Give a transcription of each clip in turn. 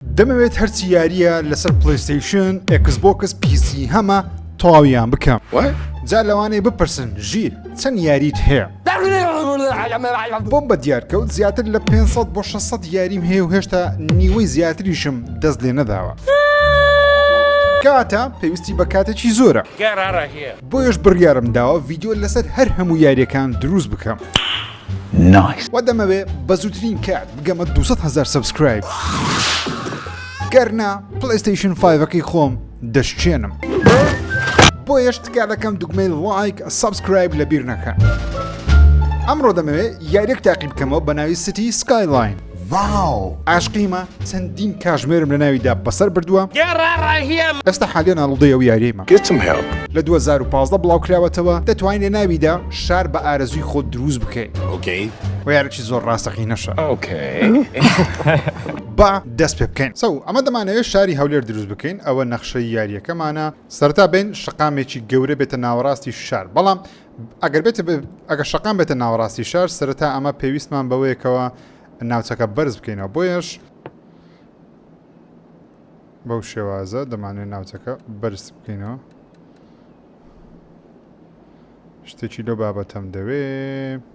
دەمەوێت هەرچی یاریە لەسەر پلیستیشن ئەکس بۆکس پیسی هەمە تەواویان بکەم جا لەوانەیە بپرسن ژیر چەند یاریت هەیە بۆم بە دیارکەوت زیاتر لە 500 بۆ 600 یاریم هەیە و هێشتا نیوەی زیاتریشم دەست لێ نەداوە کاتە پێویستی بە کاتێکی زۆرە بۆیش بڕیارم داوە ڤیددیو لەسەر هەر هەموو یاریەکان دروست بکەم. نایس. وە دەمەوێ بەزوترین کات بگەمە دوو سەد هەزار سەبسکرایب گەر نا پلەیستەیشن فایڤەکەی خۆم دەشکێنم بۆیەش تکا دەکەم دوگمەی ڵایک سەبسکرایب لەبیر نەکە ئەمڕۆ دەمەوێ یاریەک تاقی بکەمەوە بە ناوی سیتی سکایلاین واو ئاشقیمە چەندین کاژمێرم لە ناوی دا بەسەر بردووە ئێستا حالیان ئاڵودەی ئەو یاریەیمە لە دوو هەزار و پازدە بڵاو کراوەتەوە دەتوانی لە ناوی دا شار بە ئارەزووی خۆت درووست بکەی وە یارەکی زۆر ڕاستەقینەشە با دەست پێ بکەین سەو ئەمە دەمانەوێت شاری هەولێر درووست بکەین ئەوە نەخشەی یاریەکەمانە سەرتا بین شقامێکی گەورە بێتە ناوەڕاستی شار بەڵام ئەگەر بێت ئەگە شەقام بێتە ناوەڕاستی شار سەرەتا ئەمە پێویستمان بەوەیەکەوە ناوچەکە بەرز بکەینەوە بۆیش بەو شێوازە دەمانوێت ناوچەکە بەرز بکەینەوە شتێکی لەو بابەتەم دەوێ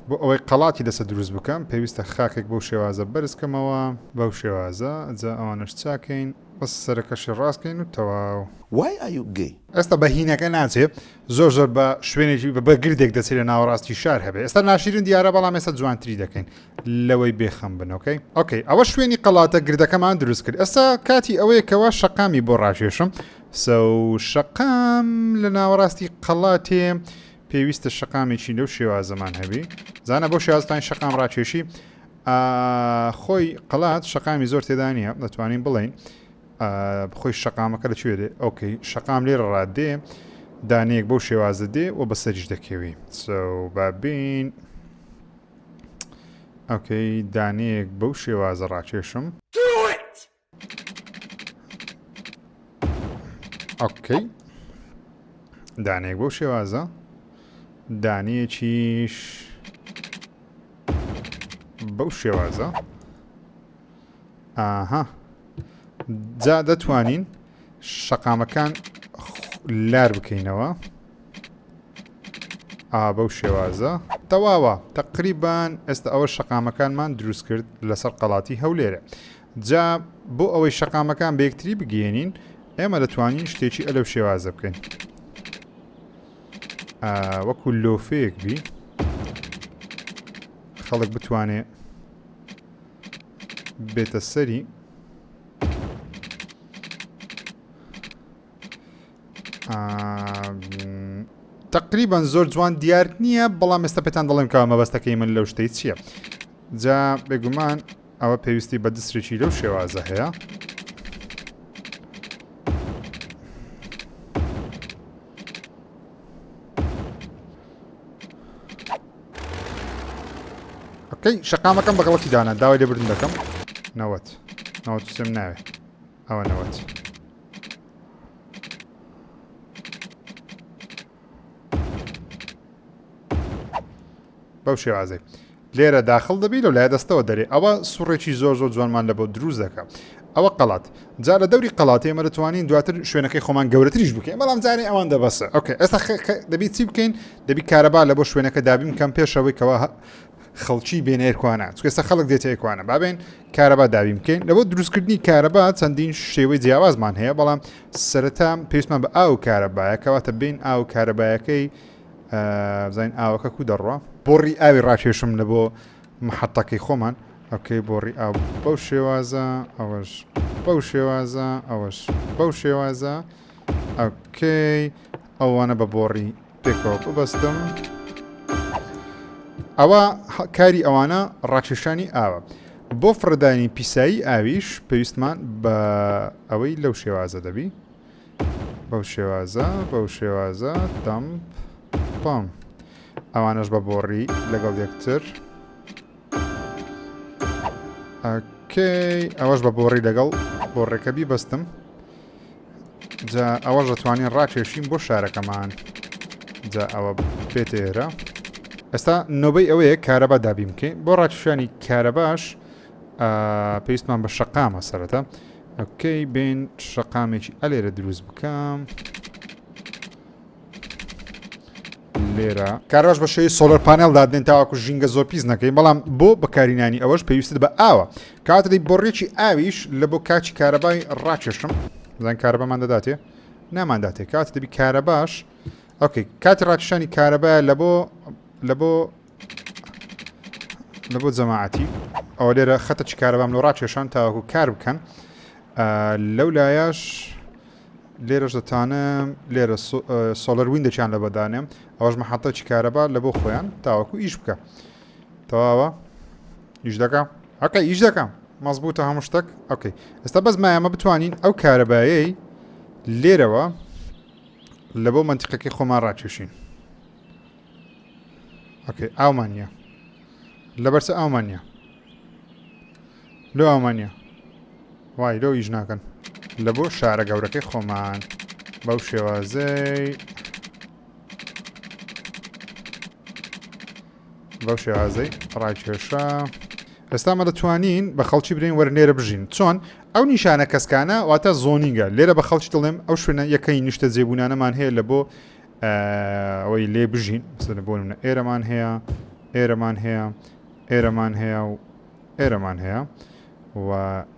بۆ ئەوەی قەڵاتی لەسە دروست بکەم پێویستە خاکێک بەو شێوازە بەرزکەمەوە بەو شێوازە جا ئەوانش چاکەین بەس سەرەکەشی ڕاستکەین و تەواو وای ئایوگەی ئێستا بەهینەکە ناچێت زۆر زۆر بە شوێنێکی بە بەگردێک دەچێت لە ناوەڕاستی شار هەبێ ئێستا ناشیرن دیارە بەڵام ێستا جوانتری دەکەین لەوەی بێخەم بنەوەکەی ئۆکەی ئەوە شوێنی قەڵاتە گردەکەمان دروست کرد ئێستا کاتی ئەوەیە کەوا شەقامی بۆ ڕاکێشم سە شەقام لە ناوەڕاستی قەڵاتێ پێویستە شەقامێکی لەو شێوازەمان هەبی زانە بۆ شێوازتان شەقام ڕاکێشی خۆی قەڵات شەقامی زۆر تێدا نیە دەتوانین بڵین خۆی شەقامەکە لە کوێ دێ ئۆکەی شەقام لێرە ڕات دێ دانەیەک بەو شێوازە دێ و بەسەریش دەکەوی بابین ئۆکەی دانەیەک بەو شێوازە ڕاکێشم ئۆکەی دانەیەک بەو شێوازە دانەیەکیش بەو شێوازە ئاها جا دەتوانین شەقامەکان لار بکەینەوە ئابە و شێوازە تەواوە تقریبان ئێستا ئەوە شەقامەکانمان دروست کرد لەسەر قەڵاتی هەولێرە جا بۆ ئەوەی شەقامەکان بەکتری بگەێنین ئێمە دەتوانین شتێکی ئەلەو شێوازە بکەین وەکو لۆفێک بی خەڵک بتوانێت بێتە سەری تقریبان زۆر جوان دیار نییە بەڵام ئێستا پێتان دەڵێم کە مەبەستەکەی من لەو شتەی چییە جا بێگومان ئەوە پێویستی بە دسرێکی لەو شێوازە هەیە ئەکەی شەقامەکەم بەگەڵکی دانا داوای لێبردن دەکەم نەوەت نەوەت سم ناوێت ئەوە نەوەت بەو شێوازەی لێرە داخڵ دەبی لەو لایە دەستەوە دەرێ ئەوە سوڕێکی زۆر زۆر جوانمان لە بۆ دروست دەکە ئەوە قەڵات جا لە دەوری قەڵاتی ئێمە دەتوانین دواتر شوێنەکەی خۆمان گەورەتریش بکەین بەڵام جارێ ئەوان دەبەسە ئۆکە ئێستا دەبی چی بکەین دەبی کارەبا لە بۆ شوێنەکە دابیم کەم پێشەوەی کەەوە خەڵکی بێنێرکوانە چکەستا خەڵک دێتێکوانە بابێن کارەبا داوی بکەین لەبۆ دروستکردنی کارەبا چەندین شێوەی جیاوازمان هەیە بەڵام سەرەتا پێستمان بە ئاو کارەبایە کەواتە بین ئاو کارەبایەکەی بزانین ئاوەکە کو دەڕوا بۆڕی ئاوی ڕاکێشم لە بۆ محەتەکەی خۆمان ئەوکەی بۆڕی ئاو بەو شێوازە ئەوەش بەو شێوازە ئەوەش بەو شێوازە ئەوکەی ئەوانە بە بۆڕی پێکەوە ببەستم ئەوە کاری ئەوانە ڕاکێشانی ئاوە بۆ فڕدانی پیسایی ئاویش پێویستمان بە ئەوەی لەو شێوازە دەبی بەو شێوازە بەو شێوازە تەمپ پام ئەوانەش بە بۆڕی لەگەڵ یەکتر ئەکەی ئەوەش بە بۆڕی لەگەڵ بۆڕێکە بیبەستم جا ئەوەش دەتوانین ڕاکێشین بۆ شارەکەمان جا ئەوە پێتێرە ئێستا نۆبەی ئەوەیە کارەبا دابیم بکەین بۆ ڕاکیشانی کارەباش پێویستمان بە شقامە سەرەتا ئۆکەی بێن شەقامێکی ئەلێرە دروست بکەم لێرە کاراش بە شێوی سۆلەر پانێل دادنێن تاواکو ژینگە زۆر پیس نەکەین بەڵام بۆ بەکارینانی ئەوەش پێویستت بە ئاوە کاتری بۆڕێکی ئاویش لە بۆ کاچی کارەبای ڕاکێشم زان کارەبەمان دەداتێ نامانداتێ کات دەبی کارەباش ئۆکەی کاتی ڕاکشانی کارەبایە لە بۆ لە بۆ لە بۆ جەماعەتی ئەوە لێرە خەتە چ کارەبام لە ڕاکێشان تاوەکو کار بکەن لەو لایەش لێرەش دەتانە لێرە سۆلەر ویندەکیان لە بەدانێم ئەوەش مەحەتە چ کارەبا لە بۆ خۆیان تاوەکو ئیش بکە تەواوە ئیش دەکەم ئەکە ئیش دەکەم مەزبووتە هەموو شتێک ئۆکەی ئێستا بەس مایەمە بتوانین ئەو کارەبایەی لێرەوە لە بۆ منتیقەکەی خۆمان ڕاکێشین ئۆکەی ئاومان نییە لە بەرسە ئاومان نییە لۆ ئاومان نییە وای لۆ ئیش ناکەن لە بۆ شارە گەورەکەی خۆمان بەو شێوازەی بەو شێوازەی ڕاکێشە ئێستامە دەتوانین بە خەڵکی برین وەرنێرە بژین چۆن ئەو نیشانە کەسکانە واتە زۆنینگە لێرە بە خەڵکی دڵێم ئەو شوێنە یەکەی نیشتە جێبوونانەمان هەیە لە بۆ ئەوەی لێ بژین بسنە بۆ منە ئێرەمان هەیە ئێرەمان هەیە ئێرەمان هەیە و ئێرەمان هەیە و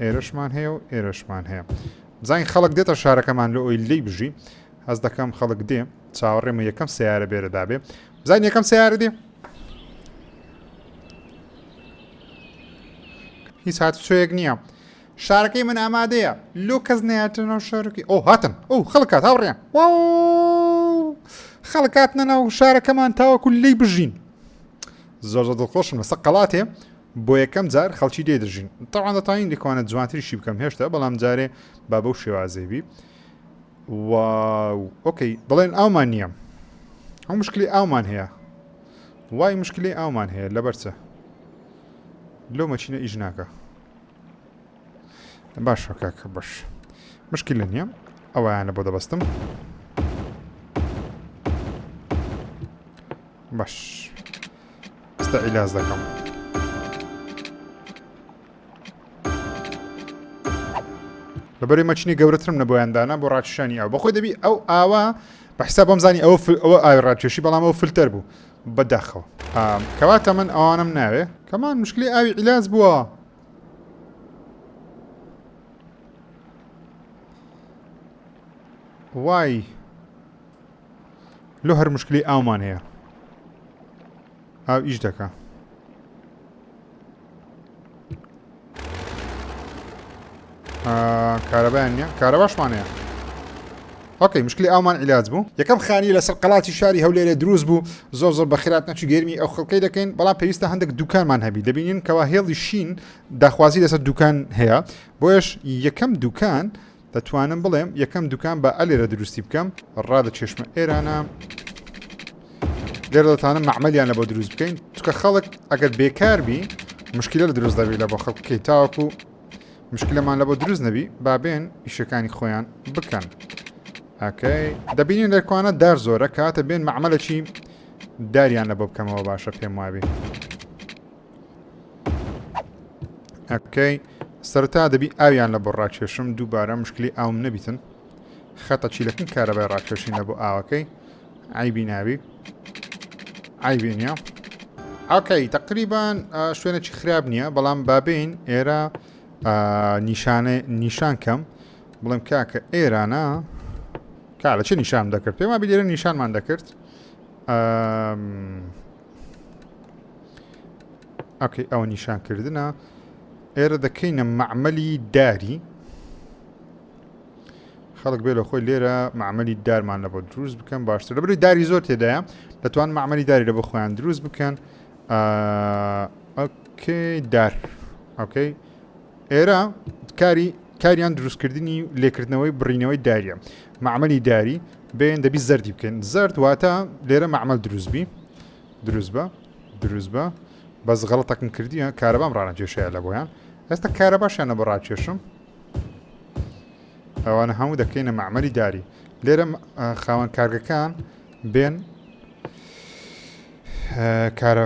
ئێرەشمان هەیە و ئێرەشمان هەیە بزانین خەڵک دێتە شارەکەمان لە ئەوی لی بژی هەز دەکەم خەڵک دێ چاوەڕێمە یەکەم سیارە بێرە دابێ بزان یەکەم سیارە دێ هیچ هاتوچۆیەک نییە شارەکەی من ئامادەیە لۆ کەس نەیاتە ناو شارەکەی ئەو هاتن ئەو خەڵکات هاوڕێن خەڵکاتنە ناو شارەکەمان تاوەکو لی بژین زۆر زۆر دڵخۆشم لەسە قەڵاتێ بۆ یەکەم جار خەڵکی دێ دەژین تاوان دەتوانین لەکوانە جوانتریشی بکەم هێشتا بەڵام جارێ با بەو شێوازێبی و ئۆکەی بڵێن ئاومان نییە ئەو مشکلی ئاومان هەیە وای مشکلی ئاومان هەیە لەبەرچە لۆ مەچینە ئیش ناکە باشە کاکە باش مشکی لە نییە ئەویانە بۆ دەبەستم باش ئستا ئیلاز دەکەم لەبەری مەچنی گەورەترم نە بۆیاندانا بۆ ڕاکشانی ئەو بەخۆی دەبی ئەو ئاوا بەحسا بۆم زانی ئەو ئەوە ئاوی ڕاکێشی بەڵام ئەو فلتەر بوو بە داخەوە کەواتە من ئەوانم ناوێ کەمان مشکلی ئاوی عیلاج بووە وای لۆ هەر مشکلی ئاومان هەیە ئاو ئیش دەکە کارەبایان نیە کارەباشمانەیە ئۆکەی مشکلی ئامان عیلاج بوو یەکەم خانی لەسەر قەڵاتی شاری هەولێرە دروست بوو زۆر زۆر بەخرات نەچی گەرمی ئەو خەڵکەی دەکەین بەڵام پێویستە هەندێک دوکانمان هەبی دەبینین کەوا هێڵی شین داخوازی لەسەر دوکان هەیە بۆیش یەکەم دوکان دەتوانم بڵێم یەکەم دوکان با ئەلێرە دروستی بکەم ڕا لە چێشمە ئێرانە لێرە دەتانم مەعمەلیان لە بۆ دروست بکەین چکە خەڵک ئەگەر بێکاربی مشکلە لە دروست دەبی لە بۆ خەڵک بکەیت تاوەکو مشکلەمان لە بۆ دروست نەبی بابێن ئیشەکانی خۆیان بکەن ئەکەی دەبینین لەکوانە دار زۆرە کاتە بێن مەعمەلەکی داریان لە بۆ بکەمەوە باشە پێم وابێ ئەکەی سەرتا دەبی ئاویان لە بۆ ڕاکێشم دووبارە مشکلی ئاوم نەبیتن خەتە چیلەکن کارەبای ڕاکێشین لە بۆ ئاوەکەی ئایبی ناوی ئایبی نیە ئەکەی تقریبان شوێنێکی خراپ نییە بەڵام بابین ئێرە نیشانە نیشان کەم بڵێم کاکە ئێرانە کارە چ نیشان دەکرد پێما بێرە نیشانمان دەکرد ئەکەی ئەوە نیشانکردە ئێرە دەکەینە معمەلی داری خەڵک بێ لە خۆی لێرە معمەلی دارمان لە بۆ دروست بکەن باشتر لە بری داری زۆر تێدایە دەتوان معمەلی داری لە بۆ خۆیان دروست بکەن ئەکەی دار ئەوکەی ئێرە کاری کاریان دروستکردنی و لێکردنەوەی بڕینەوەی داریە معمەلی داری بێن دەبی زەردی بکەن زرد واتە لێرە معمەل دروستبی دروست بە دروست بە بەس غەڵتەکم کردیە کارەبام ڕانە کێشەیە لە بۆیان ئێستا کارە باشیانە بە ڕاکێشم ئەوانە هەموو دەکەینە معمەلی داری لێرە خاوەن کارگەکان بێن کارە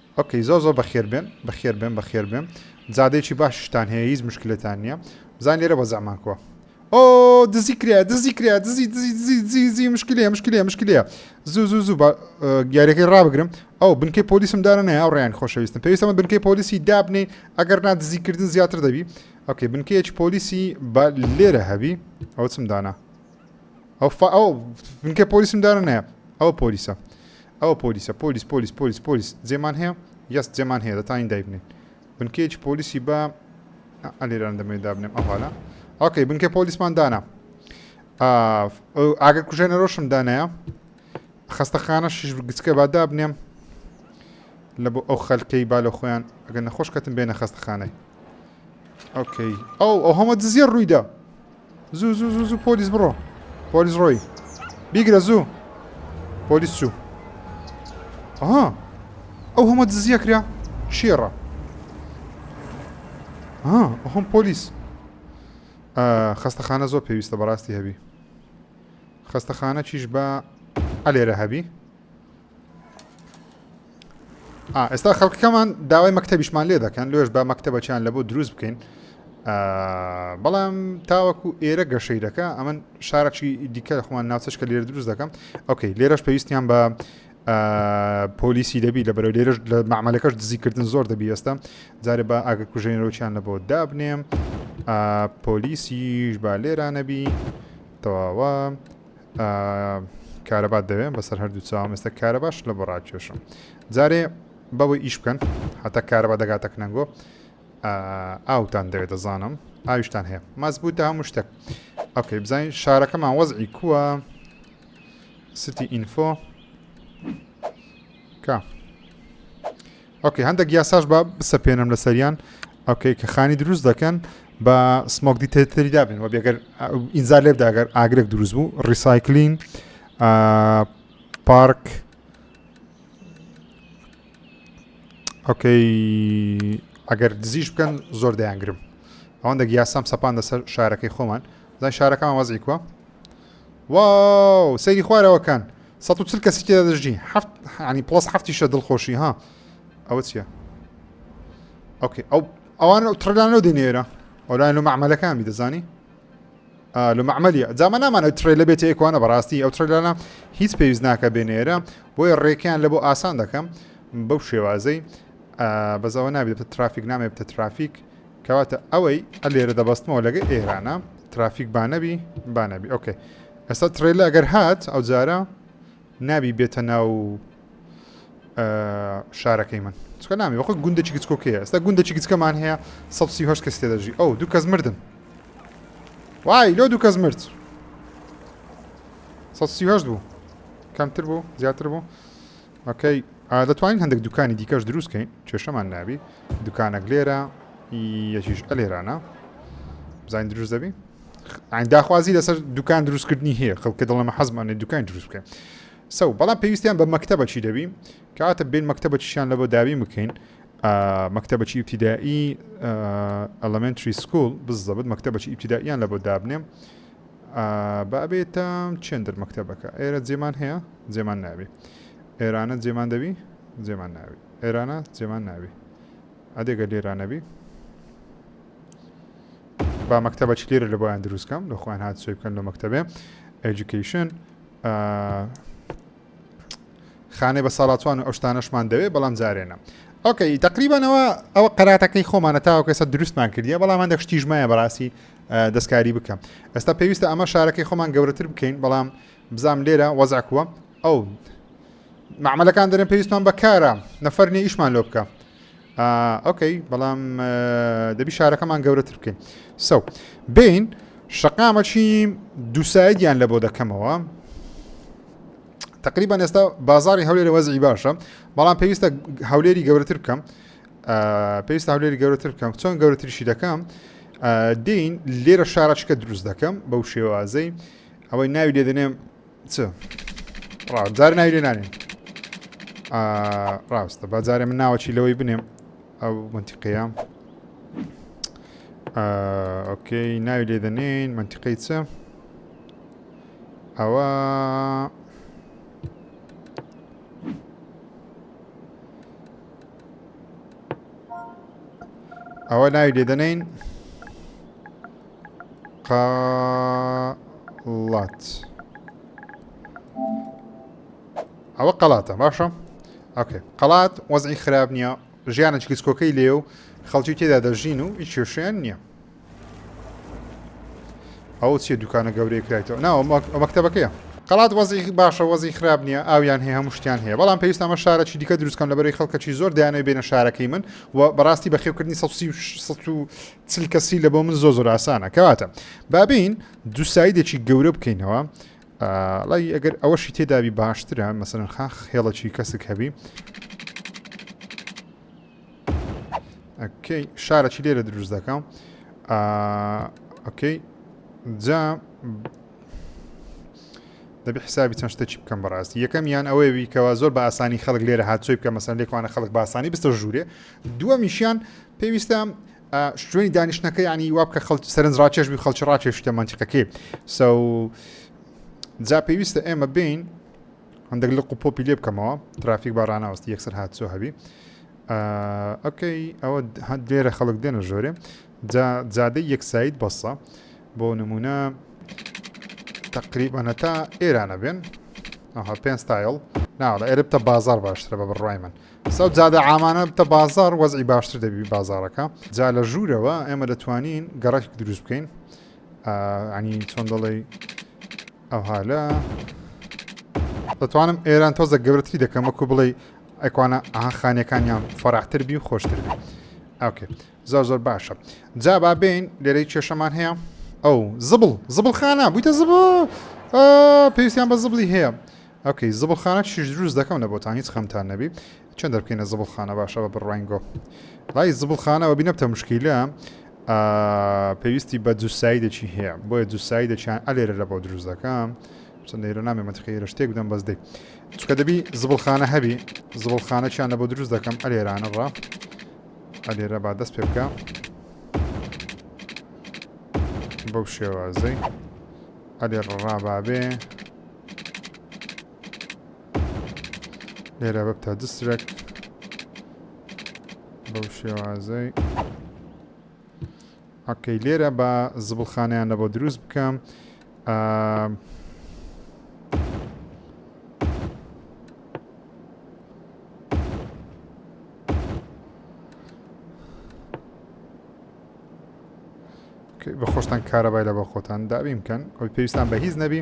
ئۆکەی زۆر زۆر بەخێر بێن بەخێر بێن بەخێر بێن جادەیەکی باشیشتان هەیە هیچ مشکلەتان نییە بزانین لێرە وەزعمان کوا ئۆ دزی کرا دزی کرا دزی دزی دزی دزی دزی مشکلەیە مشکلەیە مشکلەیە زوو زوو زوو بە گیارەکەی ڕابگرم ئەو بنکەی پۆلیسم دارە نەیە ئەو ڕیان خۆشەویستم پێویستمە بنکەی پۆلیسی دابنین ئەگەر نا دزیکردن زیاتر دەبی ئۆکەی بنکەیەکی پۆلیسی بە لێرە هەبی ئەو چم دانا ئەو فا ئەو بنکە پۆلیسم دارە نایە ئەوە پۆلیسە ئەوە پۆلیسە پۆلیس پۆلیس پۆلیس پۆلیس جێمان هەیە یەست جێمان هەیە دەتانی دایبنێن بنکەیەکی پۆلیسی بە ئەلێران دەمێ دابنێم ئەوهالا ئۆکەی بنکە پۆلیسمان دانا ئاگەر کوژێنە ڕۆشم دانایە خستەخانە شش گچکە با دابنێم لە بۆ ئەو خەلکەی با لە خۆیان ئەگەر نەخۆش کەتم بێنە خستەخانەی ئۆکەی ئەو ئەو هەمە دزیە ڕوویدا زوو زوو زوو زوو پۆلیس بڕۆ پۆلیس ڕۆی بیگرە زوو پۆلیس چوو ئەها ئەو هەمە دزیە کرا شێڕە ها ئەخۆم پۆلیس خەستەخانە زۆر پێویستە بەڕاستی هەبی خەستەخانە چیش بە ئەلێرە هەبی ئێستا خەڵکەکەمان داوای مەکتتەبیشمان لێ دەکەن لێش با مەکتتەبەچیان لە بۆ دروست بکەین بەڵام تاوەکو ئێرە گەشەی دەکە ئەمن شارەکی دیکە خۆمان ناوچەش کە لێرە دروست دەکەم ئۆکەی لێرەش پێویستیان بە پۆلیسی دەبی لە بەرەو لێرەش لە معملەکەش دزیکردن زۆر دەبی ئێستا جارێ بە ئاگە کوژێنەوەچیان لە بۆ دابنێم پۆلیسیش با لێرانەبی تەواوە کارەبات دەوێن بەسەر هەردوو چاوم ئێستا کارەباش لە بەڕاکێشم جارێ بەوە ئیش بکەن حتا کارەبا دەگاتە کنەنگۆ ئاوتان دەوێت دەزانم ئاویشتان هەیە مەزبوو تا هەموو شتێک ئۆکەی بزانین شارەکەمان وەزعی کووە ستی ئینفۆ کە ئۆکەی هەندێک یاساش بە بسەپێنم لە سەریان ئۆکەی کە خانی دروست دەکەن بە سمۆک دیتەتری دابن و بێگەر ئینجا لێبداگەر ئاگرێک دروست بوو ڕیسایکلین پارک ئۆکەی ئەگەر دزیش بکەن زۆر دەیانگرم ئەوەندە یاسام سەپان دەسەر شارەکەی خۆمان زای شارەکەمان وەزیکوە واو سەیری خوارەوە کان سەد و چل کەسی تێدا دەژی هەفت عنی پڵس هەفتیشە دڵخۆشی ها ئەوە چییە ئۆکێ ئەو ئەوان ئەو تڕدان لەو دێنێرە ئەولایەن لە مەعمەلەکانی دەزانی لە مەعمەلیە جامە نامان ئەو تڕێ لە بێت ئێکوانە بەڕاستی ئەو تڕدانە هیچ پێویست ناکە بێنێرە بۆیە ڕێکیان لە بۆ ئاسان دەکەم بەو شێوازەی بەزەوە نابێت ترافیک نامێ بتە ترافیک کەواتە ئەوەی لێرە دەبەستمەوە لەگە ئێرانە ترافیک بانەبی بانەبی ئۆکەی ئەستا ترێلە ئەگەر هات ئەو جارە نابی بێتە ناو شارەکەی من چکە نامی وەخۆ گوندێکی گچکۆکەیە ئەستا گوندێکی گچکەمان هەیە 1970 کەس تێ دەژی ئەو دوو کەس مردن وای لۆ دوو کەس مرد 1970 بوو کەمتر بوو زیاتر بوو ئۆکەی دەتوانین هەندێک دوکانی دیکەش دروست کەین کێشەمان نابی دوکانەک لێرە یەکیش ئەلێرانە بزانین دروست دەبی داخوازی لەسەر دوکان دروستکردنی هەیە خەڵکە دڵەمە حەزمانێ دوکان دروست بکەین سەو بەڵام پێویستیان بە مەکتتەبە چی دەبی کاتە بین مەکتتەبە چیان لە بۆ دابی بکەین مەکتتەبە چی ابتدایی ئەلمنتری سکول بزەبت مەکتتەبە چی ابتداییان لە بۆ دابنێم ئا با ئەبێ تە چێن دەر مەکتەبەکە ئێرە جێمان هەیە جێمان ناوی ئێرانە جێمان دەوی جێمان ناوی ئێرانە جێمان ناوی ئەدێگە لێرانەبی با مەکتەبە چ لێرە لە بۆیان دروستکەم لە خۆیان هاات سوی بکەن لە مەکتتەبێ ئەجوکیشن خانەی بە ساڵاتوان و ئەو شتانەشمان دەوێت بەڵام جارێنە ئۆکەی تقریبانەوە ئەوە قەراتەکەی خۆمانە تاوەکەسە دروستمان کردیە بەڵام هەندێک شتیژمایە بەڕاستی دەستکاری بکەم ئێستا پێویستە ئەمە شارەکەی خۆمان گەورەتر بکەین بەڵام بزام لێرە وەزعکووە ئەو معملەکان دەرێن پێویستمان بەکارە نەفەر نیە ئیشمان لۆ بکە ئۆکەی بەڵام دەبی شارەکەمان گەورەتر بکەین سەو بین شقامەچی دووسایدیان لە بۆ دەکەمەوە تقریبا ئێستا بازاری هەولێرە وەزی باشە بەڵام پێویستە هەولێری گەورەتر بکەم پێویست هەولێری گەورەتر بکەم چۆن گەورەتریشی دەکەم دین لێرە شارچکە دروست دەکەم بەو شێوازەی ئەوەی ناوی لێ دەنێم چ ڕاجار ناوی لێ نانێم ڕاستە بەجارێ من ناوەچی لەوەی بنێم ئەو منتیقەیە ئۆکەی ناوی لێ دەنێن منتیقەی چە ئەوە ئەوە ناوی لێ دەنین قڵات ئەوە قەڵاتە باشە ئەکێ قەڵات وەزعی خراپ نییە ژیانە چکیسکۆکەی لێ و خەڵکی تێدا دەژین و هیچ کێشیان نییە ئەو چیە دوکانە گەورەی کرایتەوە ناوە مەکتتەبەکەیە قەڵات وەزی باشە وەزی خراپ نییە ئاویان هەیە هەموو شتیان هەیە بەڵام پێویست ئەمە شارەکی دیکە دروستکەم لە بەرەی خەڵکەکی زۆر دایانەوە بێنە شارەکەی من و بەڕاستی بەخێوکردنی چل کەسی لە بۆ من زۆ زۆر ئاسانە کەواتە بابین دو سایدێکی گەورە بکەینەوە لای ئەگەر ئەوەشی تێدابی باشترە مەسەرخاخ هێڵەکی کەسک هەبی ئەکەی شارەکی لێرە دروست دەکەم ئەکەی جا دەبی حسابی چەند شتێکی بکەم بەڕاستی یەکەم یان ئەوەیە بیکەوە زۆر بە ئاسانی خەڵک لێرە هاچۆی بکە مەسەن لێکوانە خەڵک باسانی بستە ژوورێ دووە میشیان پێویستە شوێنی دانیشتەکە ینی واب کە خەڵ سەرنج ڕاکێش بی خەڵکی ڕاکێشتە منتیقەکەی سە جا پێویستە ئێمە بین هەندەک لق و پۆپی لێ بکەمەوە ترافیک بە ڕناوەستی یەکسەر هات سۆ هەبی ئۆکەی ئەوە لێرە خەڵک دێنە ژۆرێ جادەی یەکسایت بەسە بۆ نمونە تقریبانە تا ئێرانە بێن ئەها پێ ستایل ناوە ئێرە بتە بازار باشترە بە بڕای من سەو جادە ئامانە بتە بازار وەزی باشتر دەبی بازارەکە جا لە ژوورەوە ئێمە دەتوانین گەڕێک دروست بکەین یانی چۆن دەڵێی ئەوها لە دەتوانم ئێران تۆزە گەورەتری دەکەم وەکو بڵێ ئەکوانە ئاها خانەکانیان فەراحتر بی و خۆشتر بی ئەوکێ زۆر زۆر باشە جا با بین لێرەی کێشەمان هەیە ئەو زبڵ زبڵ خانە بوویتە زب پێویستیان بە زبڵی هەیە ئەوکەی زبڵ خانە چیش دروست دەکەم لە بۆتان هیچ خەمتان نەبی چۆن دەربکەینە زبڵ خانە باشە بە بڕواین گۆ ڕای زبڵ خانەوە بینەبتە مشکیلە پێویستی بە جوسایی دەچی هەیە بۆیە جوسایی دەچیان ئەلێرە لە بۆ دروست دەکەم چەند لێرە نامێ منتقی رشتێک بدەم بەس دەی چکە دەبی زبڵخانە هەبی زبڵخانە چیان لە بۆ دروست دەکەم ئەلێرانە ڕا ئەلێرە با دەست پێ بکە بەو شێوازەی ئەلێ ڕابابێ لێرە بەبتە دسترەک بەو شێوازەی ئەکەی لێرە بە زبڵخانیان لە بۆ دروست بکەم بە خۆشتان کارەبای لە بە خۆتان دابیم بکەن ئەوی پێویستان بە هیچ نەبی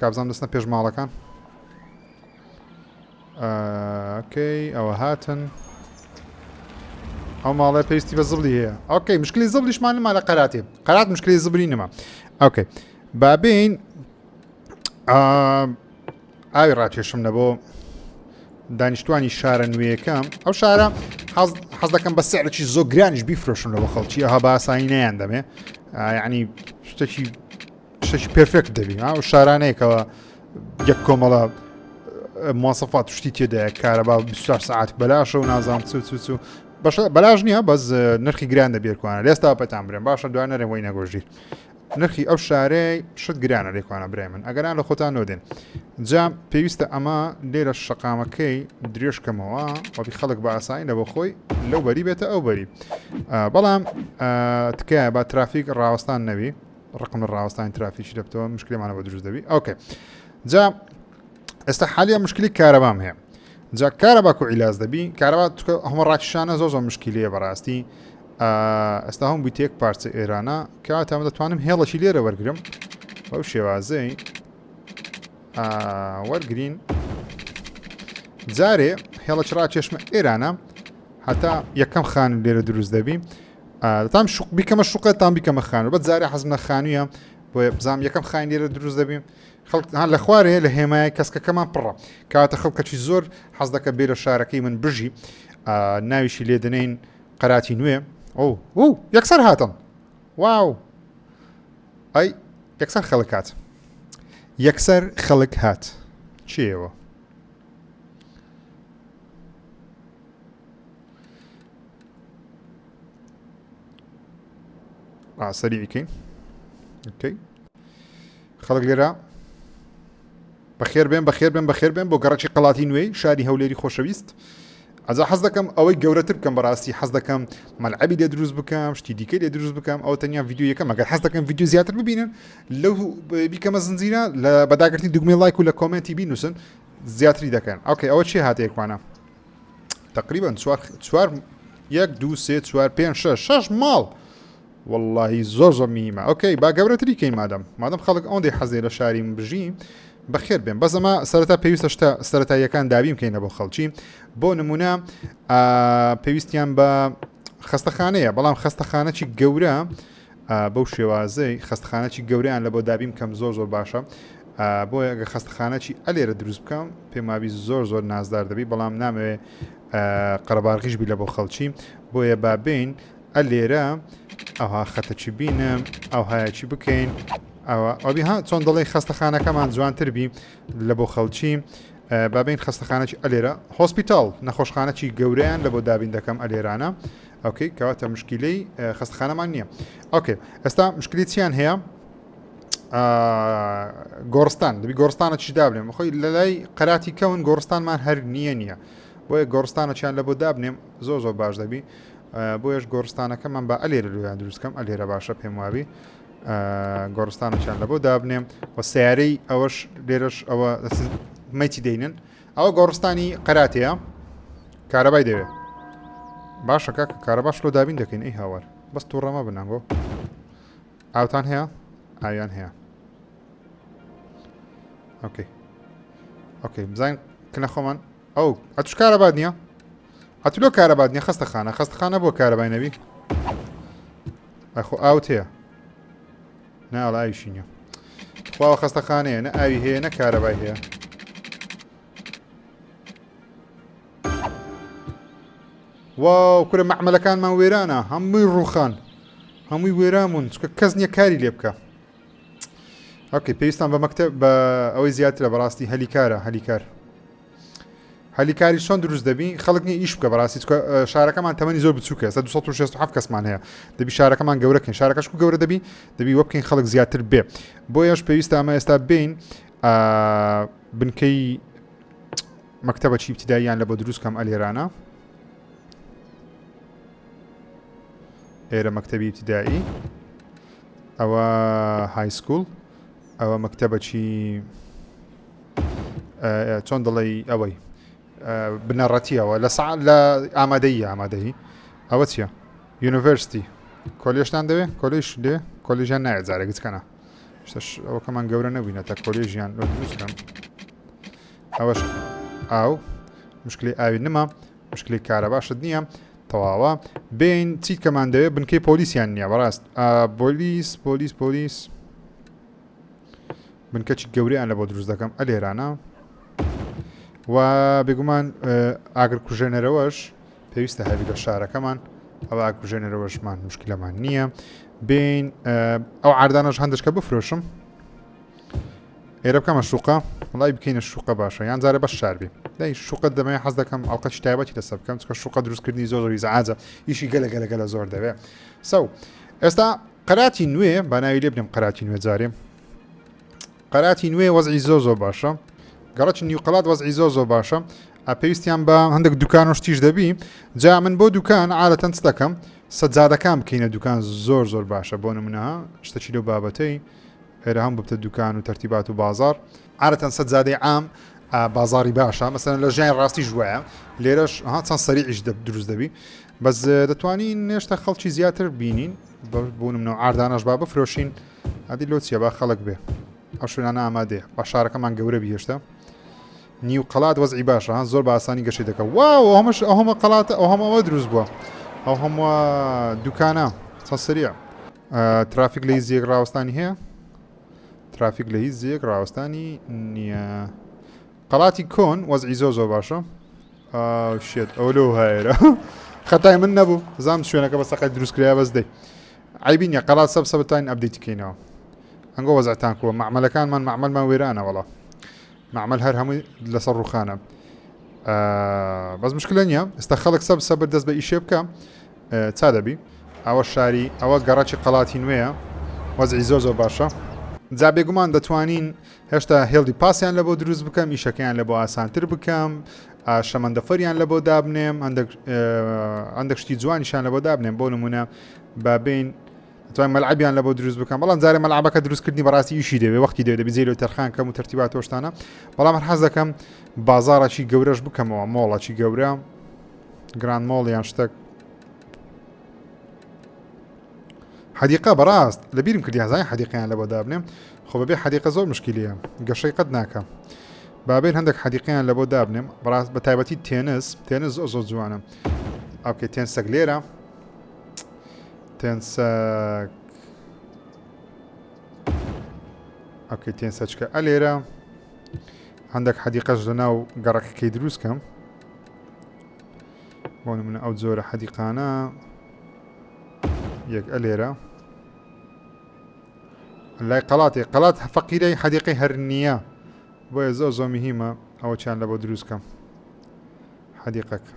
کابزام دەستنە پێش ماڵەکان ئۆکەی ئەوە هاتن ئەو ماڵێ پێویستی بە زبلی هەیە ئۆکەی مشکلی زبلیشمان نما لە قەراتێ قەرات مشکلی زبری نما ئۆکەی بابین ئاوی ڕاکێشم لە بۆ دانیشتوانی شارە نوێیەکەم ئەو شارە حەز دەکەم بە سعرەی زۆگرانیش بیفرۆشم لەەوە خەڵکی ئەها باسایی نیان دەمێ ینی شتێکی شتێکی پرفێکت دەبی ئەو شارانەیە کەەوە یەک کۆمەڵە موواسەفات شتی تێدایە کارەبا 24 سعات بەلاشە و نازان چ چ چ بەش بەلاش نییە بەس نرخی گران دەبێتوانە لێستا پێتان برێن باشە دوای نەرێ بۆی نەگۆژی نرخی ئەو شارەیە شت گرانە لێکوانە برای من ئەگەران لە خۆتان نۆدێن جام پێویستە ئەمە لێرە شقامەکەی درێژکەمەوە وەبی خەڵک بە ئاسانی لە بۆ خۆی لەو بەری بێتە ئەو بەری بەڵام تکایە با ترافیک ڕاوەستان نەوی ڕقم لە ڕاوەستانی ترافیکی دەبتەوە مشکلێمانە بە دروست دەبی ئۆکێ جا ئێستا حالیا مشکلی کارەبام هەیە جا کارەبا کو عیلاز دەبی کارەبا هەمە ڕاکیشانە زۆ زۆ مشکلیە بەڕاستی ئێستا هەم بوویتێک پارچە ئێرانە کاتە من دەتوانم هێڵەشی لێرە وەرگرم بەو شێوازەی وەرگین جارێ هێڵە چڕا چێشمە ئێرانە هەتا یەکەم خان لێرە دروست دەبی تام شوق بیکەمە شوقە تام بیکەمە خانوو بە جارە حەزم لە خانوویە بۆ بزانام یەکەم خاین لێرە دروست دەبین خەڵکان لە خوارێ لە هێمای کەسکەکەمان پڕە کاتە خەڵکەکی زۆر حەز دەکە بێ لە شارەکەی من بژی ناویشی لێ دەنین قەراتی نوێ ئەو و یەکسەر هاتم واو ئەی یەکسەر خەڵک هات یەکسەر خەڵک هات چێەوە سەریعی کەین ئۆکەی خەڵک لێرە بەخێر بێن بەخێر بێن بەخێر بێن بۆ گەڕکی قەڵاتی نوێی شاری هەولێری خۆشەویست ئەجا حەز دەکەم ئەوەی گەورەتر بکەم بەڕاستی حەز دەکەم مەلعبی لێ دروست بکەم شتی دیکە لێ دروست بکەم ئەو تەنیا یددیو یەکەم ئەگەر حەز دەکەم یددیو زیاتر ببینن لەو بیکەمە زنجیرە لە بەداگرتی دوگمێ لایک و لە کۆمنتی بینوسن زیاتری دەکەن ئەوکەی ئەوە چی هاتەیە کوانە تقریبا چوار یەک دو سێ چوار پێ شش شش ماڵ واللهی زۆر زۆر میمە ئۆکەی با گەورەتری کەی مادەم مادەم خەڵک ئەوەندەی حەزێ لە شاری من بژی بەخێر بێن بەزەما سەرتا پێویستە شتە سەتاییەکان دابیم کەینە بۆ خەڵکی بۆ نمونە پێویستیان بە خستەخانەیە بەڵام خستەخانەی گەورە بەو شێوازەی خەستخانەچی گەورەیان لەبۆ دابین بکەم زۆر زۆر باشە بۆیە گە خەستخانەچی ئەلێرە دروست بکەم پێمابی زۆر زۆر نازدار دەبی بەڵام نامەوێ قەرەبارغیش بی لە بۆ خەڵکی بۆیە بابین ئەلێرە ئەوها خەتەچی بینم ئەوهایەکی بکەین ئەوە ئەوبی ها چۆن دەڵی خەستەخانەکەمان جوانتر بی لە بۆ خەڵکی بابین خەستەخانەی ئەلێرە هۆسپیتال نەخۆشخانەی گەورەیان لە بۆ دابین دەکەم ئەلێرانە ئۆکەی کەواتە مشکیلەی خەستخانەمان نییە ئۆکەی ئێستا مشکلی چیان هەیە گۆڕستان دەبی گۆڕستانە چی دابنێم خۆی لە لای قەراتی کەون گۆڕستانمان هەر نییە نییە بۆیە گۆڕستانە چیان لە بۆ دابنێم زۆ زۆر باش دەبی بۆیش گۆڕستانەکەمان بە ئەلێرە لویان دروستکەم ئەلێرە باشە پێم وابی گۆڕستانەکان لە بۆ دابنێم و سیارەی ئەوەش لێرەش ئەوە مەتی دەینن ئەوە گۆڕستانی قەراتەیە کارەبای دەوێ باشە کاکە کارەباش لۆ دابین دەکەین ئەی هاوار بەس تووڕەمە بنانگۆ ئاوتان هەیە ئاویان هەیە ئۆکەی ئۆکەی بزانین کنە خۆمان ئەو ئەتوش کارەبات نییە ئەتو لۆ کارەبات نیە خستە خانە خستخانە بۆ کارەبای نەبی ئەخۆ ئاوت هەیە نا وەڵا ئاویشی نیە تخواوە خەستە خانەیە نە ئاوی هەیە نە کارەبای هەیە واو کورە مەعمەلەکانمان وێرانە هەمووی ڕوخان هەمووی وێرامون چکە کەس نییە کاری لێ بکە ئەوکەی پێویستان بە مەکتە بە ئەوەی زیاترە بەڕاستی هەلی کارە هەلی کار هەلی کاری چۆن دروست دەبی خەڵک نیە ئیش بکە بەڕاستی چکە شارەکەمان تەمەنی زۆر بچووکە سە 1970 کەسمان هەیە دەبی شارەکەمان گەورەکەین شارەکەش و گەورە دەبی دەبی وە بکەین خەڵک زیاتر بێ بۆ یش پێویستە ئەمە ئێستا بین بنکەی مەکتتەبە چی ابتداییان لە بۆ دروستکەم ئەلێرانە ئێرە مەکتتەبی ابتدایی ئەوە هایسکول ئەوە مەکتتەبە چی چۆن دڵی ئەوەی بنەڕەتیەوە لە سا لە ئامادەی ئامادەی ئەوە چییە یونیڤرستی کۆلیشتان دەوێت کۆلیش دێ کۆلیژیان نایە جارێکت کەنا شتش ئەوکەمان گەورە نەبووینە تا کۆلیژیان دروستکەم ئەوەش ئاو مشکلی ئاوی نما مشکلی کارە باشت نییە تەواوە بین چیت کەمان دەوێت بنکەی پۆلیسیان نییە بەڕاست پۆلیس پۆلیس پۆلیس بنکەچی گەورەیان لە بۆ دروست دەکەم ئە لێرانە و بێگومان ئاگر کوژێنەرەوەش پێویستە هەبی لە شارەکەمان ئەوە کوژێنەرەوەشمان مشکلەمان نییە بین ئەو عردانەش هەندشکە بفرۆشم ئێرە بکەمە شوقە وڵی بکەینە شوقە باشە یان جارە بە شاربی دای شوقە دەمەیە حەز دەکەم ئەڵقە شتایبەتی لەسەر بکەم چکە شوقە دروستکردنی زۆر زۆری زعاجە ئیشی گەلە گەلە گەلە زۆر دەوێ سەو ئێستا قەراتی نوێ بە ناوی لێ بنێم قەراتی نوێ جارێ قەراتی نوێ وەزعی زۆ زۆ باشە گەڕچ نیوقلات وەزعی زۆ زۆ باشە پێویستیان بە هەندێک دوکان و شتیش دەبی جا من بۆ دوکان عادەتەن دەکەم سەجادەکان بکەینە دوکان زۆر زۆر باشە بۆ نمونە شتەچی لەو بابەتەی هێرە هەم ببتە دوکان و تەرتیبات و بازار عادەتەن سەجادەی عام بازاری باشە مەسەن لە ژیان ڕاستی ژوایە لێرەش ها چەند سەریعیش دروست دەبی بەس دەتوانین نێشتە خەڵکی زیاتر بینین بە بوونم نەوە ئاردانەش با بفرۆشین ئەدی لۆ چیە با خەڵک بێ ئەو شوێنانە ئامادەیە با شارەکەمان گەورە بیێشتە نیو قەلات وەزعی باشە زۆر بە ئاسانی گەشی دەکە وا ئەومەش ئەوهمە قەلاتە ئەو هەمەوە دروست بووە ئەو هەمووە دوکانە سەسریە ترافیک لە هیچ زیێک ڕاوستانی هەیە ترافیک لە هیچ زیێک ڕاوستانی نییە قەڵاتی کۆن وەزعی زۆ زۆ باشە شێت ئەو لەو هایرە خەتای من نەبوو زام شوێنەکە بە سەقەت دروستکرای بەس دەی عەیبی نیە قەرات سەب سەبت تاین ئەبدەیتی کەینەوە ئەنگۆ وەزعتان کوە مەعمەلەکانمان مەعمەلمان وێرانە وەڵا مەعمەل هەر هەمووی لەسەر ڕوخانە بەس مشکلە نیە ئێستا خەڵک سەب سەبر دەست بە ئیشێ بکە چا دەبی ئەوە شاری ئەوە گەڕەکی قەڵاتی نوێە وەزعی زۆر زۆر باشە جا بێگومان دەتوانین هێشتا هێڵدی پاسیان لە بۆ دروست بکەم ئیشەکەیان لە بۆ ئاسانتر بکەم شەمەندەفەریان لە بۆ دابنێم هەندێک شتی جوانیشان لە بۆ دابنێم بۆ نمونە بابین توانم مەلعبیان لە بۆ دروست بکەم بەڵام جارێ مەلعبەکە دروستکردنی بەڕاستی ئیشی دەوێ وەختی دەێت بزیێ لە تەرخان کەم و ترتیبا تۆشتانە بەڵام هەر حەز دەکەم بازارەکی گەورەش بکەمەوە مۆڵەکی گەورە گران مۆڵ یان شتێک حەدیقا بەڕاست لە بیرم کردیان زای حەدیقیان لە بۆ دابنێم خۆ بەبێ حەدیقە زۆر مشکلیە گەشەی قەت ناکەم بابێن هەندێک حەدیقیان لە بۆ دابنێم بەڕاست بە تایبەتی تێنس تێنس زۆ زۆ جوانە ئەوکە تێن سەگ لێرە تێنسەک ئەکەی تێنسەچکە ئە لێرە هەندێک حەدیقەش لە ناو گەڕەکەکەی دروست کەم بۆ منە ئەو جۆرە حەدیقانە یەک ئە لێرە لای قەڵاتی قەڵات فەقیرەی حەدیقی هەر نییە بۆیە زۆ زۆ مهمە ئەوە چیان لە بۆ دروستکەم حەدیقەکە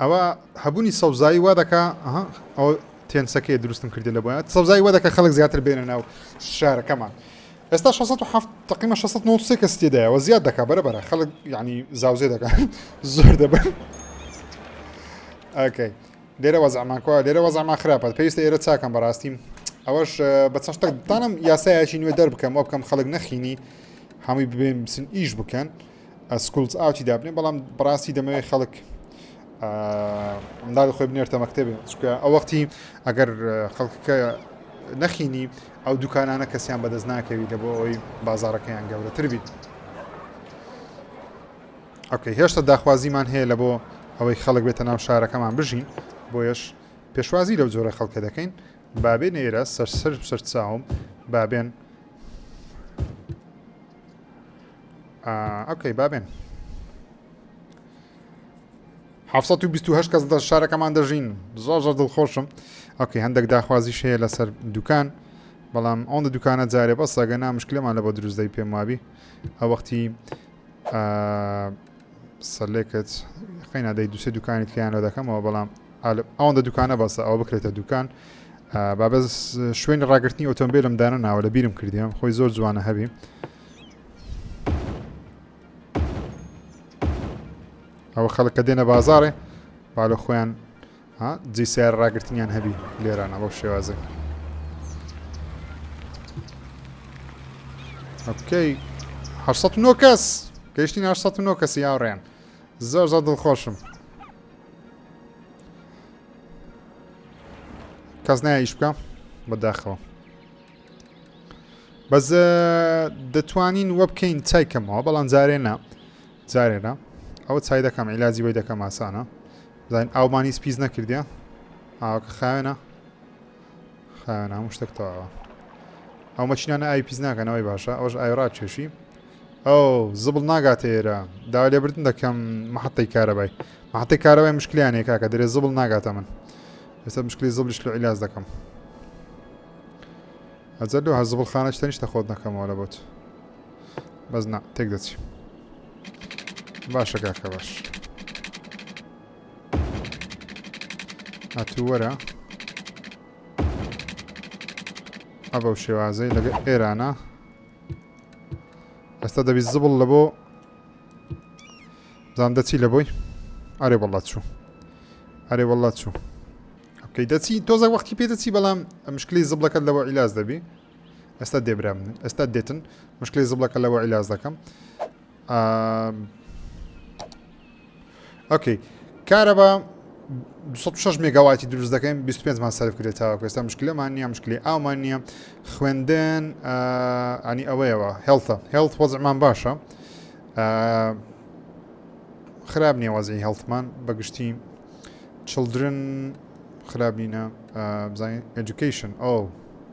ئەوە هەبوونی سەوزایی وا دەکا ئەو تێنسەکەی دروستم کردی لە بۆە سەوزای وە دەکە خەڵک زیاتر بێنە ناو شارەکەمان ئێستا 1670 تقیمە 1690 کەس تێدایەوە زیاد دەکا بەرە بەرە خەڵک ینی زاوزێ دەکات زۆر دەبن ئەکەی لێرە وەزعمان کوا لێرە وەزعمان خراپە پێویستە ئێرە چاکەم بەڕاستی ئەوەش بە چەند شتێک دانم یاسایەکی نوێ دەربکەم وە بکەم خەڵک نەخینی هەمووی ببێن بسن ئیش بکەن سکولز ئاوتی دابنێ بەڵام بڕاستی دەمەوێ خەڵک منداڵ خۆی بنێرتە مەکتتەبێ چکە ئەو وەختی ئەگەر خەڵکەکە نەخینی ئەو دوکانانە کەسیان بەدەست ناکەوی لە بۆ ئەوی بازارەکەیان گەورەتر بیت. ئۆکەی هێشتا داخوازیمان هەیە لەبۆ ئەوەی خەڵک بێتە ناو شارەکەمان بژین بۆیەش پێشوازی لەو جۆرە خەڵکە دەکەین بابێن ئێرە سەرسەر سەرچاوم بابێن ئۆکەی بابێن 1920 کەس دە شارەکەمان دەژین زۆر زۆر دڵخۆشم ئۆکەی هەندێک داخوازی شەیە لەسەر دوکان بەڵام ئەوەندە دوکانە جارێ بەسەگە نامشکلەمان لە بۆ دروستدەی پێم وابی ئەوەختی سەلێکت خی نادەی دوسێ دوکانی تکیانەوە دەکەمەوە بەڵام ئەوەندە دوکانە بەسە ئەو بکرێتە دوکان بابە شوێنی ڕاگررتنی ئۆتۆمبیلم دانە ناوە لە بیرم کردیم خۆی زۆر جوانە هەبی ئەوە خەڵکە دێنە بازارێ با لە خۆیان ها جێی سەیارە ڕاگرتنیان هەبی لێرانە بەو شێوازە ئۆکەی هەشسەد و نۆ کەس گەیشتین هەشسەد و نۆ کەسی هاوڕێیان زۆر زۆر دڵخۆشم کەس نایە ئیش بکە بەداخەوە بەس دەتوانین وە بکەین چای کەمەوە بەڵام جارێ نا جارێ نا ئەوە چای دەکەم عیلاجی بۆی دەکەم ئاسانە زانین ئاومان هیچ پیس نەکردە ئاوەکە خاوێنە خاوێن هەموو شتێک تەواوە ئەو مەچینانە ئای پیس ناکەنەوەی باشە ئەوش ئایڕات کێشی ئەو زبڵ ناگاتە ئێرە داوا لێبردن دەکەم مححتەی کارەبای مححتەی کارەبای مشکلیانێک کاکە دەێ زبڵ ناگاتە من ئێستا مشکلی زبلیش لە عیلاز دەکەم ئەجەر لەوە زبڵ خانە شتەنیشتە خۆت نەکەمەوە لە بۆت بەس نا تێک دەچی باشە کاکە باش هاتوو وەرە ئەبە و شێوازەی لەگە ئێرانە ئێستا دەبی زبڵ لە بۆ زان دەچی لە بۆی ئارێ بەڵات چوو ئەرێ وڵات چوو ئەکەی دەچی تۆزە وەختی پێ دەچی بەڵام مشکلی زبڵەکەت لەوە عیلاز دەبی ئێستا دێ برام ئێستا دێتن مشکلی زبڵەکە لەوە عیلاز دەکەم ئۆکەی کارەبا 26 مێگاواتی دروست دەکەین 25 مان سەرف کرێت تاوە ئێستا مشکلەمان نییە مشکلی ئاومان نییە خوێندن ئەنی ئەوەیەوە هێڵتە هێڵت وەزمان باشە خراپ نییە وەزی هێڵتمان بەگشتی چلدرن خراپ نینە بزانین ئەدوکیشن ئەو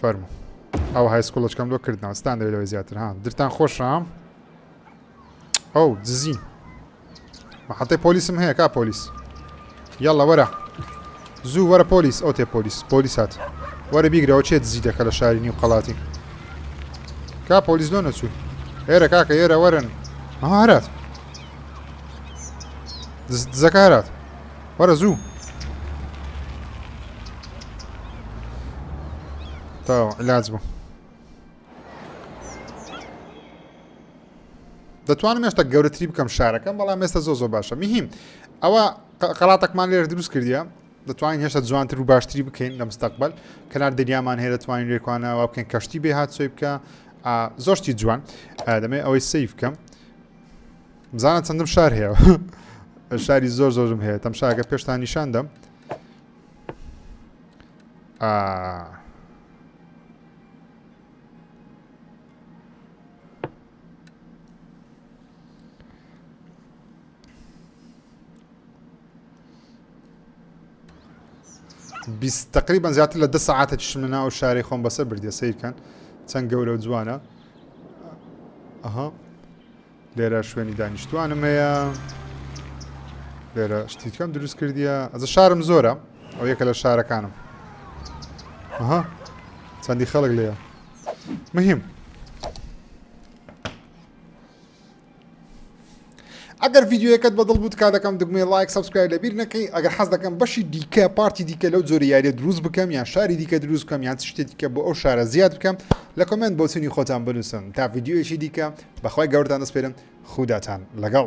فەرمو ئەو های سکوڵچکەم لۆ کردنەوە ستان دەوێت لەوەی زیاتر ها درتان خۆشام ئەو دزی محەتەی پۆلیسم هەیە کا پۆلیس یاڵە وەرە زوو وەرە پۆلیس ئەو تێ پۆلیس پۆلیس هات وەرە بیگرەوە چێت زی دەکە لە شاری نیو قەڵاتی کا پۆلیس لۆ نەچوو هێرە کاکە ئێرە وەرن هەرات دزەکارات وەرە زوو تاو علاج بوو دەتوانم مێشتە گەورەتری بکەم شارەکەم بەڵام مێستا زۆ زۆ باشە میهیم ئەوە قەڵاتەکمان لێر دروست کردە دەتوانین هێشتا جوانتر و باشتری بکەین لە مستەقبل کەنار دەریامان هەیە دەتوانین لێکوانەوە بکەین کەشتی بێ هات سوی بکە زۆشتی جوان دەمێ ئەوەی سیف بکەم بزانە چەندم شار هەیە شاری زۆر زۆرم هەیە تەم شاگە پێشتان نیشان دەم تقریبان زیاتر لە دە ساعتە چشم لە ناو شارەی خۆم بەسەر بردە سیرکەن چەند گەورە و جوانە ئەها لێرە شوێنی دانیشتوانم هەیە لێرە شتیکەم دروست کردیە ئەزە شارم زۆرە ئەو یەکە لە شارەکانم ئەها چەندی خەڵک لێە مهم ئەگەر یددیوەکەت بەدڵ بوو کا دەکەم دگمێ لایک سبسکرای لەبیر نەکەی ئەگەر حەز دەکەم بەشی دیکە پارتی دیکە لەو زۆری یاریە دروست بکەم یان شاری دیکە دروست بکەم یان شتێکیکە بۆ ئەو شارە زیاد بکەم لە کۆمێنت بۆچونی خۆتان بنوسن تا ڤیدیۆیەکی دیکە بەخوای گەورەتان دەسپێرم خوداتان لەگەڵ.